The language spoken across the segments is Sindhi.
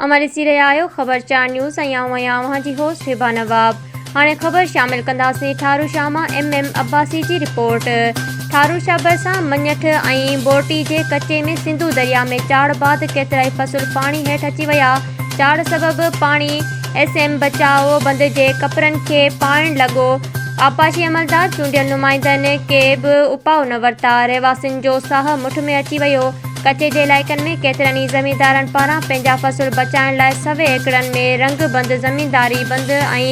اوهان ڏسي رهيا آهيو خبر چار نيوز ۽ آئون آهيان اوهان جي هوسٽ هبا نواب هاڻي خبر شامل ڪنداسين ٺارو شاهه مان ايم ايم عباسي جي رپورٽ ٺارو شاهه ڀرسان مڃٺ ۽ بورٽي جي ڪچي ۾ سنڌو دريا ۾ چاڙهه بعد ڪيترائي فصل پاڻي هيٺ اچي ويا چاڙهه سبب پاڻي ايس ايم بچاء بند جي ڪپرن کي پائڻ لڳو، آبپاشي عملدار چونڊيل نمائندن ڪي به اپاء نه ورتا، رهواسين جو ساهه مٺ ۾ اچي ويو، ڪچي جي علائقن ۾ ڪيترن ئي زميندارن پاران پنهنجا فصل بچائڻ لاء سوين ايڪڙن ۾ رنگ بند، زمينداري بند ۽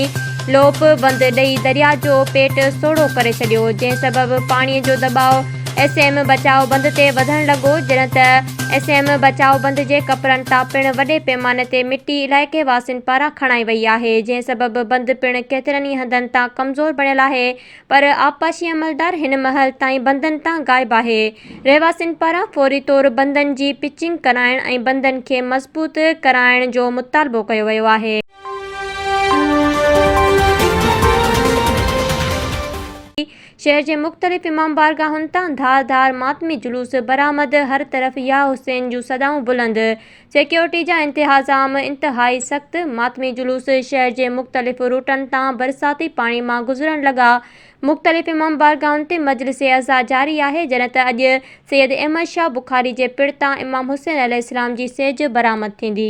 لوپ بند ڏئي درياء جو پيٽ سوڙهو ڪري ڇڏيو، جنهن سبب پاڻي جو دٻاء ايس ايم بچاء بند تي وڌڻ لڳو، جڏهن ته. ايس ايم بچاء بند جي ڪپرن تان پڻ وڏي پيماني تي مٽي علائقي واسين پاران کڻائي وئي آهي جنهن سبب بند پڻ ڪيترن ئي هنڌن تان ڪمزور بڻيل آهي پر آبپاشي عملدار هن مهل تائين بندن تان غائب آهي رهواسين پاران فوري طور بندن جي پچنگ ڪرائڻ ۽ بندن کي مضبوط ڪرائڻ جو مطالبو ڪيو ويو آهي. شهر جي مختلف امام بارگاهن تان ڌار ڌار ماتمي جلوس برآمد، هر طرف يا حسين جون صدائون بلند، سيڪيورٽي جا انتهاظام انتهائي سخت، ماتمي جلوس شهر جي مختلف روٽن تان برساتي پاڻي مان گذرڻ لڳا، مختلف امام بارگاهن تي مجلس عزا جاري آهي جڏهن ته اڄ سيد احمد شاهه بخاري جي پڙ تان امام حسين عليه السلام جي سيج برآمد ٿيندي.